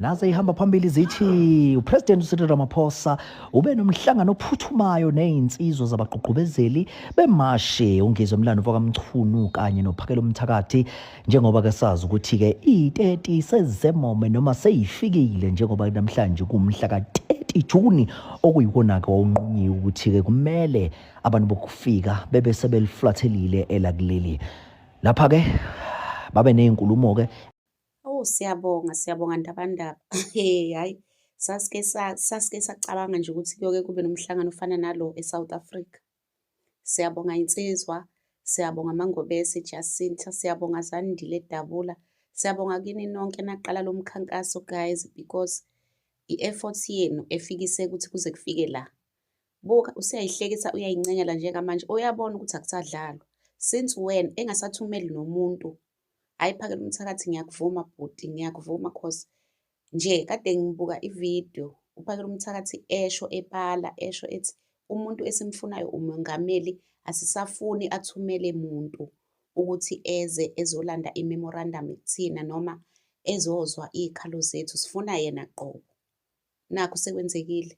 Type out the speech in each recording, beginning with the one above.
naze ihamba phambili zithi uPresident uCyril Ramaphosa ube nomhlangano ophuthumayo nezinsizwa zabagqugqubezeli bemashi ungizwe Mlando wakamchunu kanye nophakelo umthakathi njengoba ke sazi ukuthi ke i-30 sezisemome noma seyifikile njengoba namhlanje kumhla ka-30 Juni okuyiwona ke wawunqunyiwe ukuthi ke kumele abantu bokufika bebe sebeliflathelile elakuleli lapha ke babe nezinkulumo ke Oh siyabonga siyabonga ndabandaba hey hayi sasike sasike sacabanga nje ukuthi kuyoke kube nomhlangano ofana nalo eSouth Africa Siyabonga insizwa, siyabonga Mangobese Jacinta, siyabonga Zandile Dabula. Siyabonga kini nonke naqala lo mkhankaso guys because i-effort yenu efikise ukuthi kuze kufike la. Buka useyayihlekisa uyayincengela njengamanje uyabona ukuthi akusadlalwa. Since when engasathumeli nomuntu. Hayi phakela umthakathi ngiyakuvuma bhuti ngiyakuvuma cause Nje kade ngibuka ivideo uPhakela uMthakathi esho ebala esho ethi umuntu esimfunayo umongameli asisafuni athumele muntu ukuthi eze ezolanda i-memorandum kuthina noma ezozwa iy'khalo zethu sifuna yena qobo. Nakho sekwenzekile.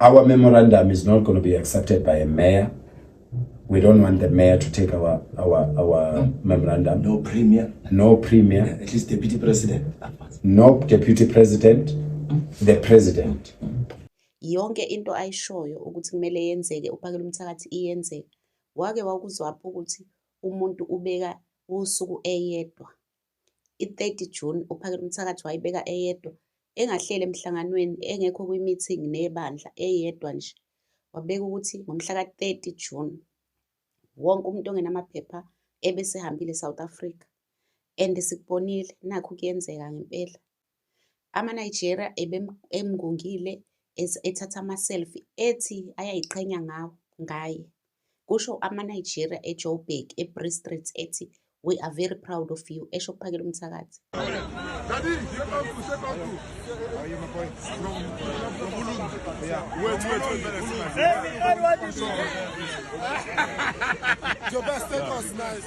Our memorandum is not going to be accepted by a mayor. We don't want the mayor to take our our our no. memorandum. No premier. No premier. Yeah, at least deputy president. No deputy president. The president. Yonke into ayishoyo ukuthi kumele yenzeke uphakela umthakathi iyenzeka. Wake wakuzwapha ukuthi umuntu ubeka usuku eyedwa I-30 June uPhakela umthakathi wayibeka eyedwa, engahleli emhlanganweni, engekho kwi-meeting nebandla, eyedwa nje. Wabeka ukuthi ngomhla ka-30 June wonke umuntu ongenamaphepha ebesehambile eSouth Africa and sikubonile nakhu kuyenzeka ngempela. AmaNigeria emngungile ethatha ama-selfie ethi ayayiqhenya ngawo ngaye, kusho amaNigeria eJoburg eBree Street ethi We are very proud of you, esho kuphakela umthakathi. Your best take us nice.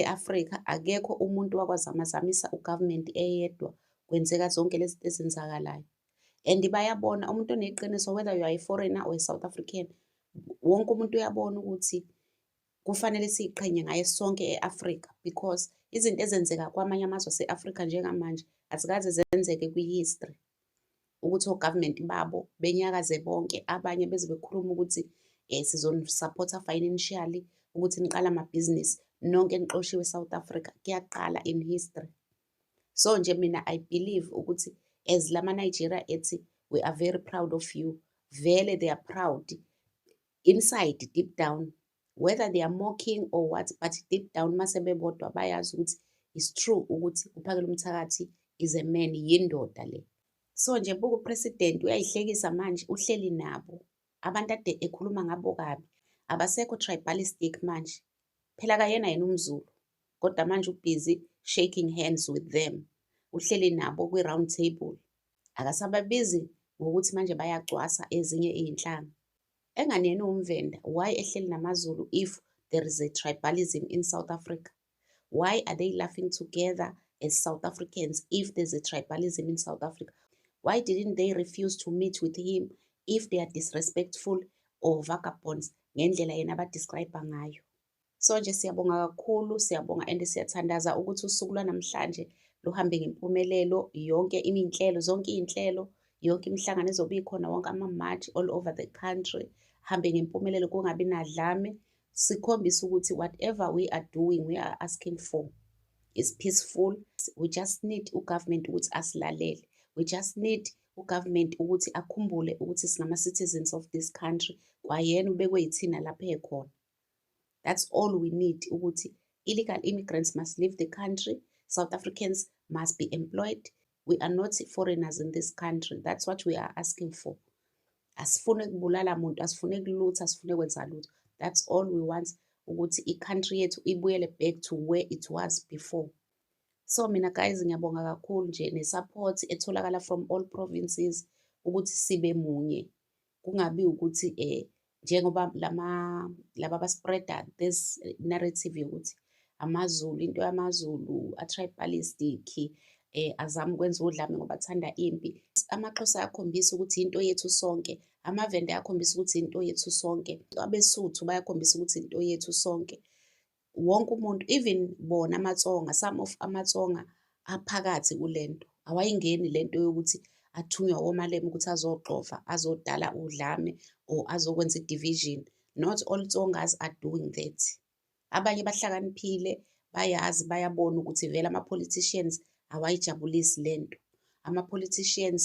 E-Afrika akekho umuntu wakwazamazamisa ugovernment eyedwa kwenzeka zonke lezi zinto ezenzakalayo. And bayabona umuntu oneqiniso whether you are a foreigner or a South African wonke umuntu uyabona ukuthi kufanele siyiqhenye ngaye sonke e-Afrika because izinto ezenzeka kwamanye amazwe ase-Afrika njengamanje azikaze zenzeke kwi-history. ukuthi o-government babo benyakaze bonke abanye beze bekhuluma ukuthi um sizonisupport-a financially ukuthi niqala amabhizinisi nonke nixoshiwe e-south africa kuyaqala in history so nje mina i believe ukuthi as lama-nigeria ethi we are very proud of you vele they are proud inside deep down whether they are mocking or what but deep down mase bebodwa bayazi ukuthi is true ukuthi uphakela umthakathi is a man yindoda le so nje buku president uyayihlekisa manje uhleli nabo abantu ade ekhuluma ngabo kabi abasekho tribalistic manje phela kayena yena umzulu kodwa manje ubhizi shaking hands with them uhleli nabo kwi-round table Akasababizi ngokuthi manje bayagcwasa ezinye izinhlanga. Engani yena uwumvenda, why ehleli namaZulu if there is a tribalism in South Africa? Why are they laughing together as South Africans if there's a tribalism in South Africa? Why didn't they refuse to meet with him if they are disrespectful or vagabonds ngendlela yena abadescribe ngayo? So nje siyabonga kakhulu, siyabonga and siyathandaza ukuthi usuku lwanamhlanje luhambe ngempumelelo. Yonke iminhlelo, zonke iy'nhlelo, yonke imihlangano ezobe ikhona, wonke ama-march all over the country hambe ngempumelelo kungabi nadlame. Sikhombisa ukuthi whatever we are doing, we are asking for is peaceful. We just need ugovernment ukuthi asilalele. We just need ugovernment ukuthi akhumbule ukuthi singama-citizens of this country, kwayena ubekwe yithina lapha ekhona. That's all we need ukuthi illegal immigrants must leave the country. South Africans must be employed. We are not foreigners in this country. That's what we are asking for. Asifune kubulala muntu, asifune kulutha, asifune kwenza lutho. That's all we want ukuthi i-country yethu ibuyele back to where it was before. So mina guys ngiyabonga kakhulu nje ne-support etholakala from all provinces ukuthi sibe munye. kungabi ukuthi eh njengoba lama laba baspreader this narrative yokuthi amazulu into yamazulu atribalistic eh azama ukwenza udlame ngoba athanda impi amaxhosa ayakhombisa ukuthi into yethu sonke amavende ayakhombisa ukuthi into yethu sonke abesuthu bayakhombisa ukuthi into yethu sonke wonke umuntu even bona amatsonga some of amatsonga aphakathi kule nto awayingeni le nto yokuthi athunywa womalema ukuthi azoxova azodala udlame or azokwenza i-division not all tsongas are doing that abanye bahlakaniphile bayazi bayabona ukuthi vele ama-politicians awayijabulisi le nto ama-politicians